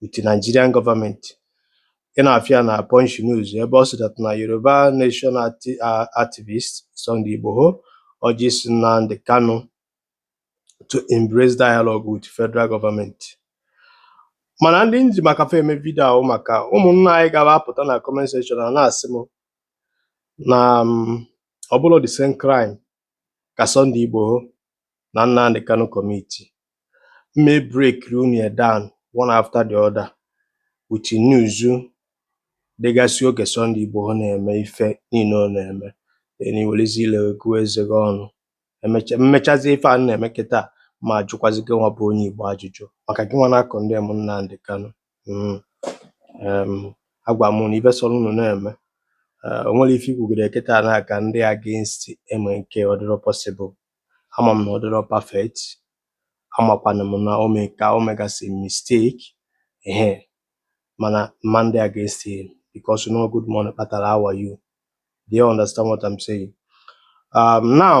with the Nigerian government ị na-afụ ya na Punch News ebe ọ sị that na Yoruba Nation acti- uh, activist Sunday Igboho urges Nnamdi Kanu to embrace dialogue with federal government. mana ndị nji maka fa eme vidio ahụ maka ụmụnna anyị gara apụta na comment section a na-asị m na mm, ọ bụrọ the same crime ka Sunday Igboho na Nnamdi Kanu commitiri mme breakiri unu ya down one after the other with news dịgasị oge Sunday Igboho na-eme ife niile ọ na-eme na iwerezi ile gụọ eze gị ọnụ emecha mmechazi ife a na-eme kịta m ajụkwazi gị nwa bụ onye Igbo ajụjụ maka gị nwa na-acondemn Nnamdi Kanu mm, em, agwa m unu ife sọrọ unu na-eme Eh, o nwere ife ikwugide kịta na ka m dị against MNK ọdịrọ possible ama m na ọdịrọ perfect amakwana m na ome ka o megasị mistake ehe mana m ma adị against him because na ọ good morning kpatara how are you do you understand what I'm saying um, now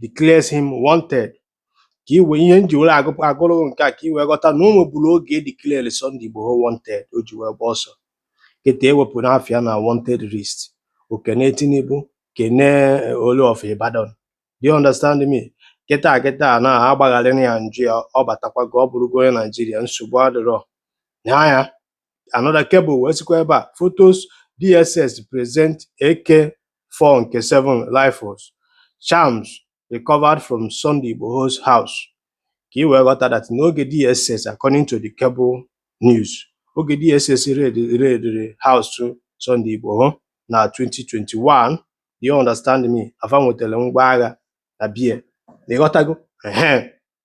declares him wanted ka i wee ihe nji were agụ- agụrụ gị nke a ka i wee ghọta na o nweburu oge e declare Sunday Igboho wanted o ji wee gba ọsọ kịta ewepụna afa ya na wanted list o kene Tinubu kene eh, Olu of Ibadan do you understand me kịta kịta na a gbaghaara ya njọ ya ọ batakwago ọ bụrụgo onye Naijiria nsogbu adịrọ na ya another cable wee sịkwa ebe a photos dss present ak4 nke 7 rifles charms recovered from sunday igboho's house ka i wee ghọta that n'oge dss according to the cable news oge dss raidiri house sunday igboho na 2021 you understand me na fa nwetara ngwa agha na be ya ịghọtago ehe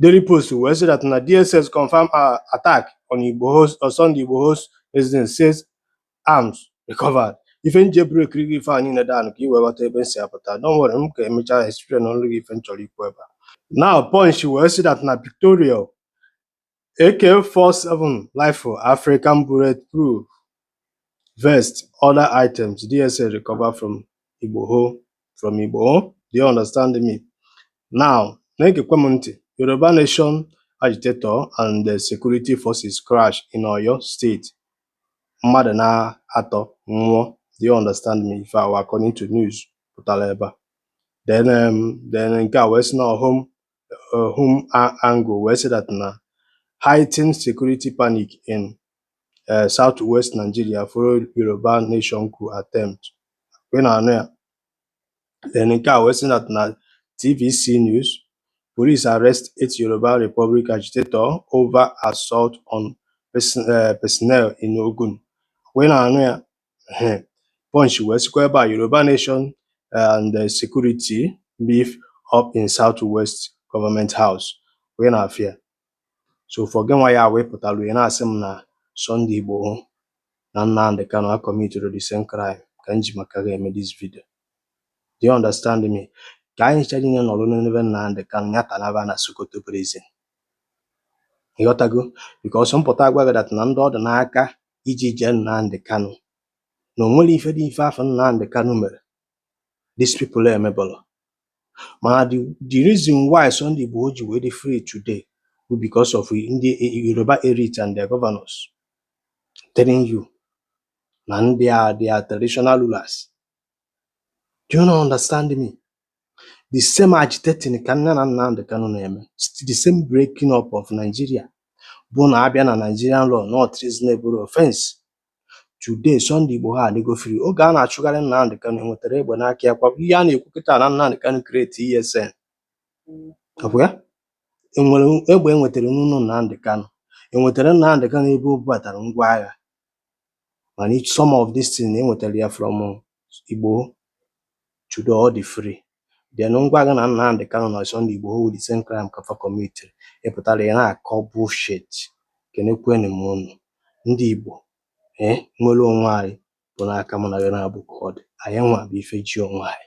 Daily Post wee sị that na DSS confirmed uh, attack on Igboho's on Sunday Igboho's residence says arms recovered. Ife nji ebreakiri gị ife a niile down ka i wee ghọta ebe m si apụta don't worry m ka emechaa explainịrị gị ife m chọrọ ikwu ebe a. Now Punch wee sị that na pictorial AK-47 rifle African bulletproof vest other items DSS recover from Igboho from Igboho do you understand me now na-egekwe m ntị Yoruba Nation agitator and the security forces clash in Oyo State mmadụ na-atọ nwụọ do you understand me ife a wụ according to news pụtara ebe a then um, then nke a wee sị na ọhụm uh, HumAngle wee sị that na heightened security panic in uh, southwest Nigeria followed Yoruba nation coup attempt kwa ị na-anụ ya then nke a wee sị that na TVC news police arrest eight Yoruba Republic agitator over assault on uh, personnel in Ogun kwa ị na-anụ ya Punch wee sikwa ebe a Yoruba Nation and Security Beef Up in South West Government House kwa ị na-afụ ya so ụfọ gị nwa ya wee pụtara ya na-asị m na Sunday Igboho na Nnamdi Kanu a committed the same crime ka m ji maka ya eme this video do you understand me ka anyị chọrọ inye nọrọ n'ebe Nnamdi Kanu ya tanaba na Sokoto prison ịghọtago because m pụta agwa gị that na ndị ọ dị n'aka iji jee Nnamdi Kanu na o nwere ife dị ife afụ Nnamdi Kanu mere these people emebọrọ mana the, the reason why Sunday Igboho ji wee dị free today bụ because of ndị Yoruba elite and their governors telling you na ndị a their traditional rulers do you not understand me the same agitating ka nne na Nnamdi Kanu na-eme the same breaking up of Nigeria bụ na a bịa na Nigerian law na ọ treasonable offense today Sunday Igboho adịgo free oge a na-achụgharị Nnamdi Kanu enwetara egbe n'aka ya kwa bụ ihe a na-ekwu kịta na Nnamdi Kanu create ESN ọ bụ ya enwere egbe enwetara n'ụlọ Nnamdi Kanu enwetara Nnamdi Kanu ebe o bubatara ngwa agha mana some of this thing enwetara ya from Igboho today ọ dị free then m gwa gị na Nnamdi Kanu na Sunday Igboho bụ the same crime ka fa commitiri ị pụtara ya na-akọ bullshit kenekwenụ m unu ndị Igbo ee eh, nwere onwe anyị bụ n'aka mụ na gị na-abụ ka ọ dị anyị nwa bụ ife ji onwe anyị